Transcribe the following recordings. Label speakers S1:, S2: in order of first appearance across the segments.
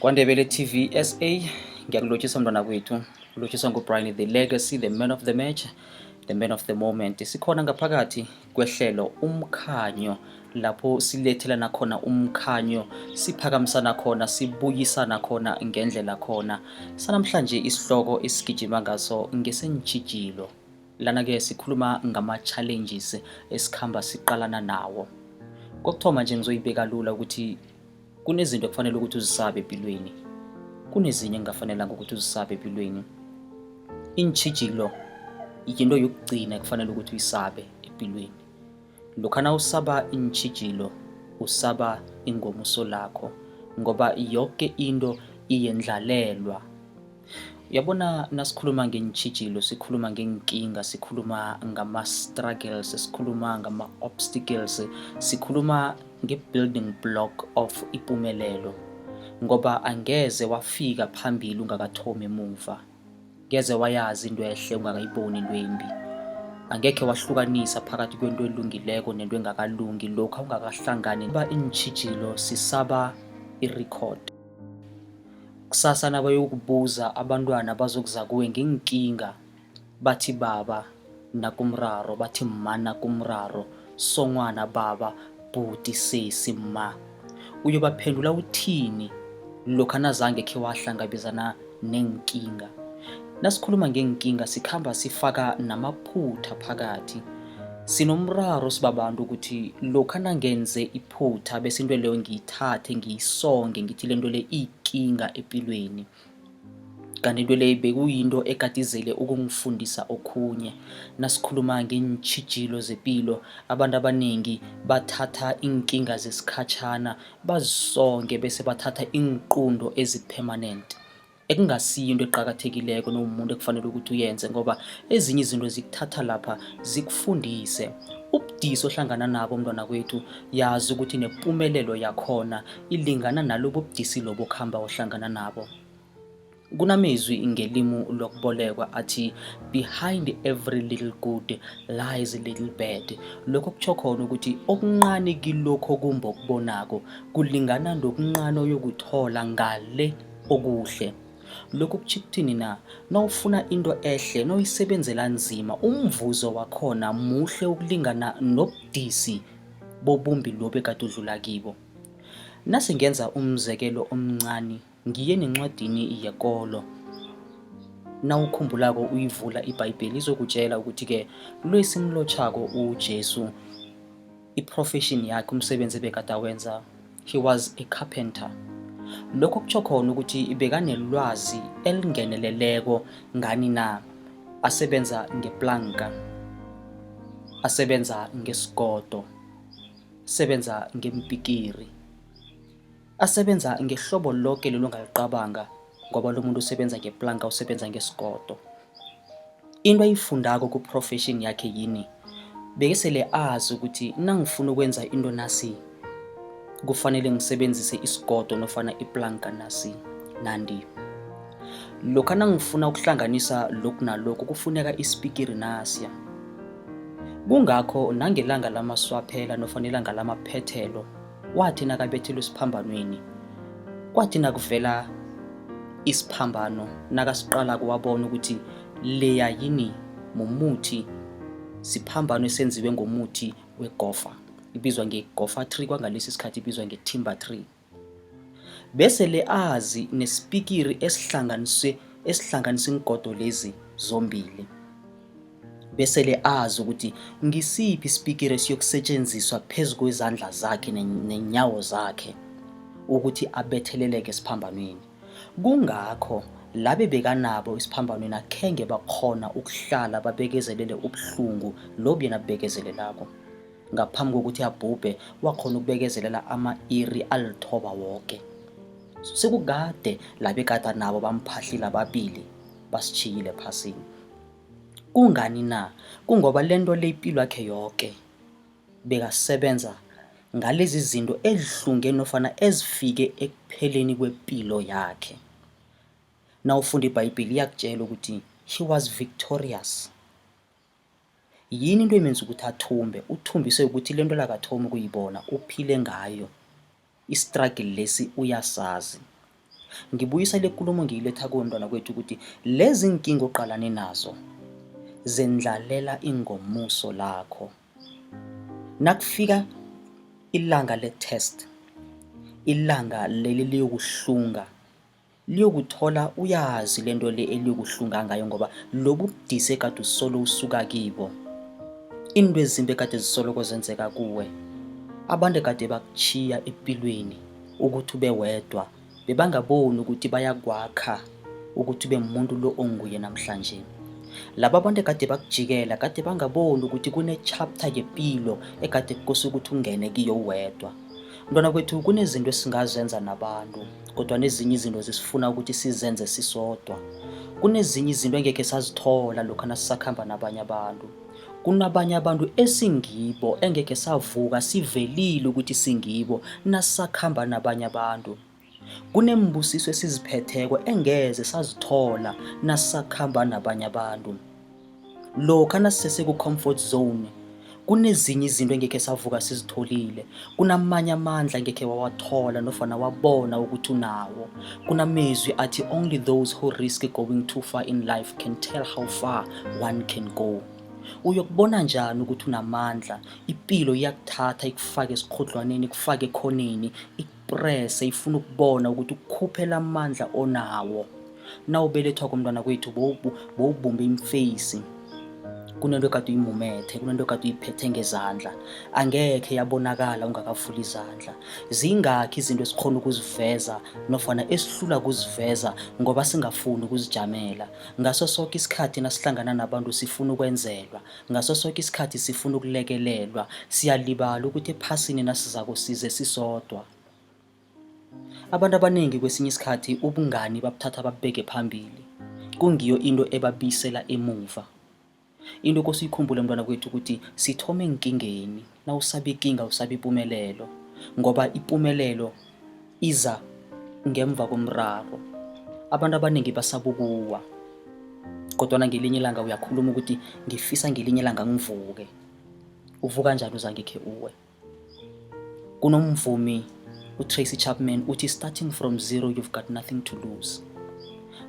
S1: KwaNdebele TV SA ngiyakulotshisa mntwana kwethu ulotshiswa nguBrian the legacy the man of the match the man of the moment sikhona ngaphakathi kwehlelo umkhanyo lapho silethelana khona umkhanyo siphakamisana khona sibuyisana khona ngendlela khona sanamhlanje isihloko esigijima ngaso ngesenjijilo lana-ke sikhuluma ngama-challenges esikhamba siqalana nawo kokuthoma nje ngizoyibeka lula ukuthi kunezinto ekufanele ukuthi uzisabe empilweni kunezinye engingafanelanga ukuthi uzisabe empilweni iintshijilo yinto yokugcina ekufanele ukuthi uyisabe empilweni lokha na usaba iintshijilo usaba ingomuso lakho ngoba yoke into iyendlalelwa Uyabona nasikhuluma ngeentjhijilo, sikhuluma ngeenkinga, sikhuluma ngama-struggles, sikhuluma ngama-obstacles, sikhuluma nge-building block of ipumelelo ngoba angeze wafika phambili ungakathomi emuva. Ngeze wayazi into ehle ungakayiboni into embi. Angekhe wahlukanisa phakathi kwento elungileko nento engakalungi lokha ungakahlangani ba iintjhijilo sisaba i-record. Kusasa nabayokubuza abantwana bazokuza kuwe ngeenkinga bathi baba nakumraro, bathi mma nakumraro, songwana baba, bhuti, sesi, mma. Uyobaphendula uthini lokha nazange khe wahlangabezana neenkinga? Nasikhuluma ngeenkinga sikhamba sifaka namaphutha phakathi. Sinomraro sibabantu ukuthi lokha nangenze iphutha bese into leyo ngiyithathe ngiyisonge ngithi lento le iyikinga epilweni. Kanti into le bekuyinto ekadizele ukungifundisa okhunye. Nasikhuluma ngeentjhijilo zepilo, abantu abanengi bathatha iinkinga zesikhatjhana bazisonge bese bathatha iinqunto ezi-permanent. ekungasiyo into eqakathekileko nomuntu ekufanele ukuthi uyenze ngoba ezinye izinto zikuthatha lapha zikufundise ubudisi ohlangana nabo mntwana kwethu yazi ukuthi nempumelelo yakhona ilingana nalobo budisi lobo kuhamba ohlangana nabo kunamezwi ngelimu lokubolekwa athi behind every little good lies little bad lokho kutsho khona ukuthi okunqane kilokho kumbo kubonako kulingana nokunqane oyokuthola ngale okuhle lokhu kutjho ukuthini na nawufuna into ehle noyisebenzela nzima umvuzo wakhona muhle ukulingana nobudisi bobumbi lobe kade udlula kibo nase ngenza umzekelo omncane ngiye nencwadini yekolo nawukhumbulako uyivula ibhayibheli izokutshela ukuthi-ke lo esimlotjhako ujesu I-profession yakhe umsebenzi ebekade awenza he was a carpenter lokho kutsho khona ukuthi bekanelwazi elingeneleleko ngani na asebenza ngeplanka asebenza ngesigodo sebenza ngempikiri Asebenza ngehlobo loke lelo ngalicabanga ngoba lo muntu usebenza ngeplanka usebenza ngesigodo. Into ayifundako ku-profession yakhe yini? Bekesele azi ukuthi nangifuna ukwenza into nasi kufanele ngisebenzise isigodo nofana iplanka nasi nandi. Lokha nangifuna ukuhlanganisa lokhu nalokhu kufuneka isipikiri nasiya. Kungakho nangelanga lamaswaphela nofana ilanga lamaphethelo wathi nakabethelwe esiphambanweni kwathi nakuvela isiphambano nakasiqala kuwabona ukuthi leya yini mumuthi siphambano esenziwe ngomuthi wegofa ibizwa ngegofa tree kwangalesi sikhathi ibizwa ngetimber tree bese le azi nesipikiri esihlanganise esihlanganisa ingodo lezi zombili besele azi ukuthi ngisiphi isipikiri esiyokusetshenziswa phezu kwezandla zakhe nenyawo zakhe ukuthi abetheleleke esiphambanweni kungakho labe bekanabo esiphambanweni akhenge bakhona ukuhlala babekezelele ubuhlungu lobu yena bubekezelelako ngaphambi kokuthi abhubhe wakhona ukubekezelela ama-iri alithoba woke sekukade labe kade nabo bamphahlile ababili basishiyile phasini Kungani na? Kungoba lento le ipilwakhe yoke bekasebenza ngalezi zinto ezihlunge nofana ezifike ekupheleni kwepilo yakhe. Nawufunda iBhayibheli iyakutjela ukuthi he was victorious. Yini into emenza ukuthi athumbe? Uthumbiswe kukuthi lento lakathomi ukuyibona, uphile ngayo. Isitragili lesi uyasazi. Ngibuyisa le kulumo ngiyiletha kuwe mntwana kwethu ukuthi lezi nkinga oqalane nazo zendlalela ingomuso lakho. Nakufika ilanga le-test, ilanga leli liyokuhlunga liyokuthola uyazi le nto le eliyokuhlunga ngayo ngoba lobu budise kade usolo usuka kibo iinto ezimbi kade zisoloko zenzeka kuwe abantu kade bakuchiya empilweni ukuthi ube wedwa bebangaboni ukuthi bayakwakha ukuthi ube muntu lo onguye namhlanje laba abantu ekade bakujikela kade bangaboni ukuthi kune-chapter yempilo ekade kukose ukuthi ungene kiyo uwedwa mntwana kwethu kunezinto esingazenza nabantu kodwa nezinye izinto zisifuna ukuthi sizenze sisodwa kunezinye izinto engekhe sazithola lokhu nasisakhamba nabanye abantu kunabanye abantu esingibo engekhe savuka sivelile ukuthi singibo nasisakhamba nabanye abantu kunembusiso esiziphetheko engeze sazithola nasisakhamba nabanye abantu lokha nasisese ku-comfort zone kunezinye izinto engekhe savuka sizitholile kunamanye amandla ngekhe wawathola nofana wabona ukuthi unawo kunamezwi athi only those who risk going too far in life can tell how far one can go uyokubona njani ukuthi unamandla ipilo iyakuthatha ikufake esikhodlwaneni ikufake ekhoneni prese ifuna ukubona ukuthi ukukhuphela amandla onawo nawubelethwa komntwana kwethu bowubumbe imfeyisi kunento ekade uyimumethe kunento ekade uyiphethe ngezandla angekhe yabonakala ungakavuli izandla zingakhi izinto esikhona ukuziveza nofana esihlula ukuziveza ngoba singafuni ukuzijamela ngaso soke isikhathi nasihlangana nabantu sifuna ukwenzelwa ngaso soke isikhathi sifuna ukulekelelwa siyalibala ukuthi ephasini nasizako size sisodwa abantu abaningi kwesinye isikhathi ubungani babuthatha babubeke phambili kungiyo into ebabisela emuva into kosiyikhumbule mntwana kwethu ukuthi sithome enkingeni nawusaba ikinga usaba ipumelelo ngoba ipumelelo iza ngemva komraro abantu abaningi basabukuwa kodwana ngelinye ilanga uyakhuluma ukuthi ngifisa ngelinye ilanga ngivuke uvuka njani uzangekhe uwe kunomvumi utracy chapman uthi starting from zero you've got nothing to lose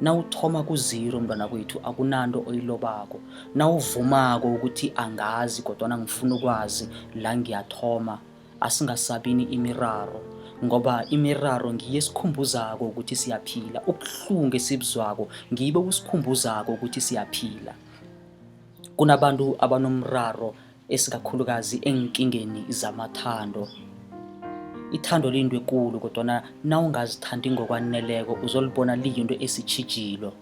S1: nawuthoma kuziro mntwana kwethu akunanto oyilobako nawuvumako ukuthi angazi kodwana ngifuna ukwazi la ngiyathoma asingasabini imiraro ngoba imiraro ngiye sikhumbuzako ukuthi siyaphila ubuhlungu esibuzwako ngibo kusikhumbuzako ukuthi siyaphila kunabantu abanomraro esikakhulukazi eenkingeni zamathando ithando liyinto ekulu kodwana nawungazithandi ngokwaneleko uzolibona liyinto esitshijilo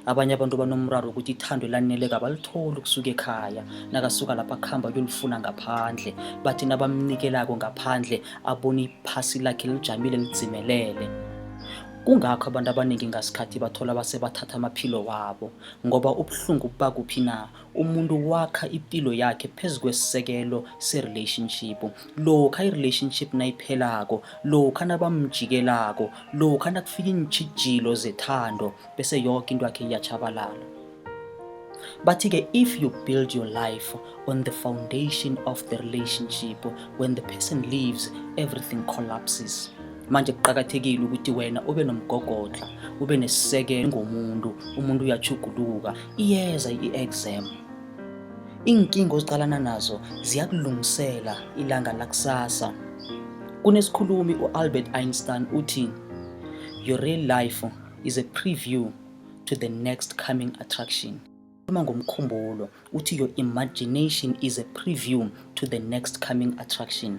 S1: abanye abantu banomraro ukuthi ithando elaneleko abalitholi ukusuka ekhaya nakasuka lapha akuhamba kuyolifuna ngaphandle bathi nabamnikelako ngaphandle abone iphasi lakhe lijamile lidzimelele kungakho abantu abaningi ngasikhathi bathola basebathatha amaphilo wabo ngoba ubuhlungu bubakuphi na umuntu wakha ipilo yakhe phezu kwesisekelo se-relationship lokha i-relationship nayiphelako lokha nabamjikelako lokha nakufika iintjhijilo zethando bese yoke into yakhe iyatshabalala bathi-ke if you build your life on the foundation of the relationship when the person leaves everything collapses manje kuqakathekile ukuthi wena ube nomgogodla ube nesisekelo ngomuntu umuntu uyachuguluka Iyeza i-exam. Iinkinga oziqalana nazo ziyakulungisela ilanga lakusasa. Kunesikhulumi u-Albert Einstein uthi, Your real life is a preview to the next coming attraction. Uma ngomkhumbulo uthi your imagination is a preview to the next coming attraction.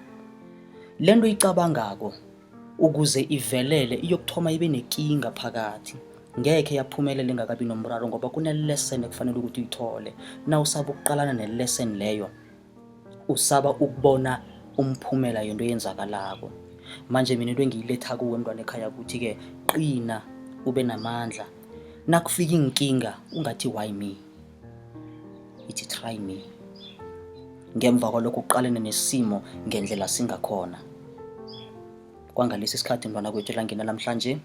S1: Lento icabangako ukuze ivelele iyokuthoma ibe nekinga phakathi ngekhe yaphumelela engakabi nomraro ngoba kunelesson ekufanele ukuthi uyithole na usaba ukuqalana nelesson leyo usaba ukubona umphumela yento eyenzakalako manje mina into engiyiletha kuwe mntwana ekhaya ukuthi-ke qina ube namandla nakufika iinkinga ungathi why me ithi try me ngemva kwalokho uqalene nesimo ngendlela singakhona kwangalesi sikhathi mntwana kwethu elangena namhlanje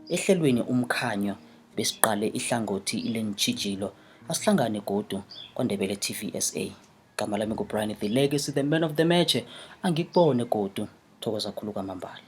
S1: ehlelweni umkhanyo besiqale ihlangothi lentshijilo asihlangane godu kwandebele tv sa gama lami ngubrian the legacy the man of the match angikubone godu thokoza khulu kwamambala